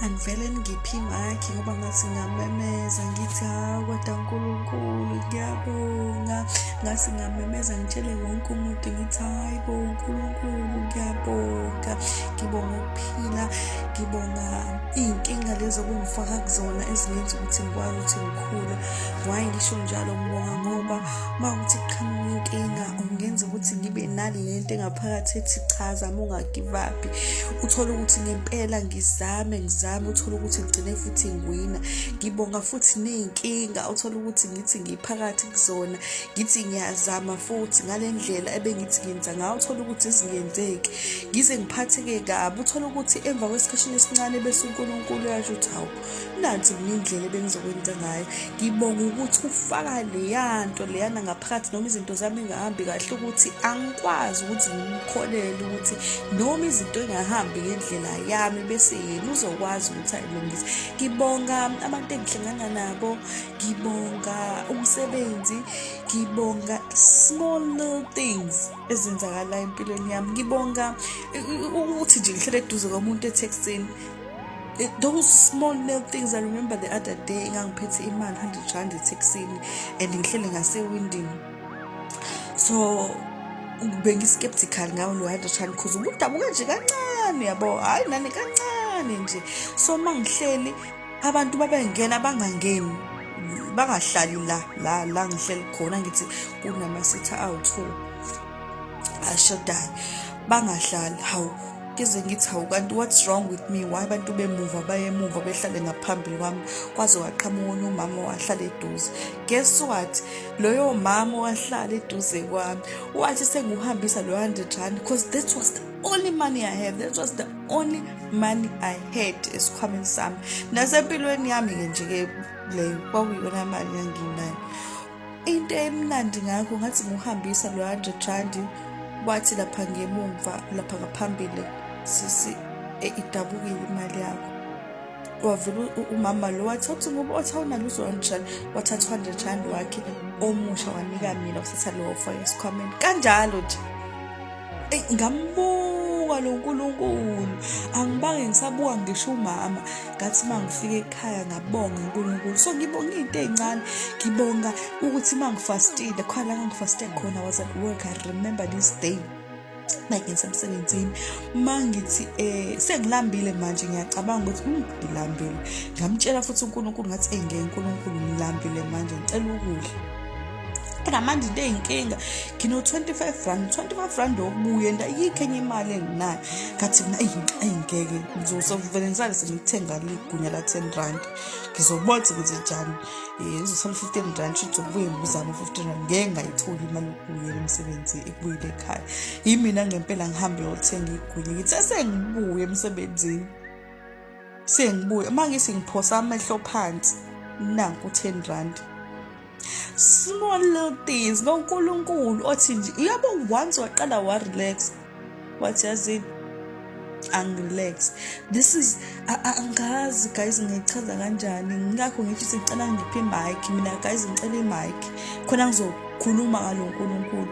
angivele ngiphi imakhi ngoba ngathi ngamemeza ngithi hawu kodwa nkulunkulu ngiyabonga ngathi ngamemeza ngitshele wonke umuntu ngithi hayi bo nkulunkulu ngiyabonga ngibonga ukuphila ngibonga iy'nkinga lezi okungifaka kuzona ezingenza ukuthi ngikwazi ukuthi ngikhule waye ngisho njalo ngibonga ngoba uma ukuthi kuqhamuka inkinga ungenza ukuthi ngibe nale nto engaphakathi ethi cha zama ungagivaphi uthole ukuthi ngempela ngizame ngizame uthole ukuthi ngigcine futhi ngiwina ngibonga futhi ney'nkinga uthole ukuthi ngithi ngiphakathi kuzona ngithi ngiyazama futhi ngale ndlela ebengithi ngenza ngayo uthole ukuthi zingenzeki ngize ngiphatheke kabi uthole ukuthi emva kwesikhashini esincane bese unkulunkulu yasho ukuthi hawu nansi mina indlela ebengizokwenza ngayo ngibonga ukuthi ufaka leya nto leyana ngaphakathi noma izinto zami engahambi kahle ukuthi angikwazi ukuthi ngimkholele ukuthi noma izinto engahambi ngendlela yami bese yena uzokwazi ukuthi ayilungise ngibonga abantu engihlangana nabo ngibonga umsebenzi ngibonga small little things ezenzakalayo empilweni yami ngibonga ukuthi nje ngihlele eduze komuntu etheksini It, those small little things i remember the other day ngangiphethe imali 100 rand ethekisini and ngihlele ngasewindini so bengi-skeptical ngawo lo 100 rand cause ubudabuka nje kancane yabo hhayi nani kancane nje so uma ngihleli abantu babengena bangangeni bangahlali la la la ngihleli khona ngithi kunama-sitha awu-two ashodayo bangahlali hawu ngize ngithi hawu kanti what's wrong with me why abantu bemuva bayemuva behlale ngaphambili kwami kwaze waqhamuka onye umama wahlala eduze guess what loyo mama wahlala eduze kwami wathi sengiwuhambisa lo 100 rand because that was the only money i have that was the only money i had esikhwameni sami nasempilweni yami-ke nje-ke leyo kwakuyiyona mali yanginayo Into emnandi ngakho ngathi nguhambisa lo 100 randi wathi lapha ngemumva lapha ngaphambili sisi e, idabukile imali yakho wavula umama lo wathi uthi ngoba othi awunalo uzonjani wathatha 100 rand wakhe omusha wanika mina usetha lowo fo esikhwameni kanjalo nje eyi ngambuka lo nkulunkulu angibange ngisabuka ngisho umama ngathi uma ngifika ekhaya ngabonga unkulunkulu so ngibonga iy'nto ey'ncane ngibonga ukuthi uma ngifastile khona la ngangifaste khona was at work i remember this day makenza emsebenzini uma ngithi um sengilambile manje ngiyacabanga ukuthi um ngilambile ngamtshela futhi unkulunkulu ngathi eyi ngeke nkulunkulu ngilambile manje ngicela ukudla ngamanje into eyinkinga ngino-25 rand 25 rand okubuye ndayikho enye imali enginayo ngathi mina eyi ngeke ngizosavele ngisale sengithenga ligunya la-ten rand ngizobothe ukuthi njani um eh, ngizosala u-fifteen rand shuthi zokubuye ngibuzame u-fifteen rand ngeke ngayitholi imali yokubuyela emsebenzi ekubuyele ekhaya yimina ngempela ngihambe yothenga igunya ngithi esengibuye emsebenzini sengibuya uma ngithi ngiphosa amehlo phansi nanku 10 rand small little things nonkulunkulu othi nje uyabo once waqala warelax wathi yazini angirelax this is angazi guys ngiyichaza kanjani ngakho ngithi sicela ngiphe imic mina guys ngicela imic khona ngizokhuluma ngalo nkulunkulu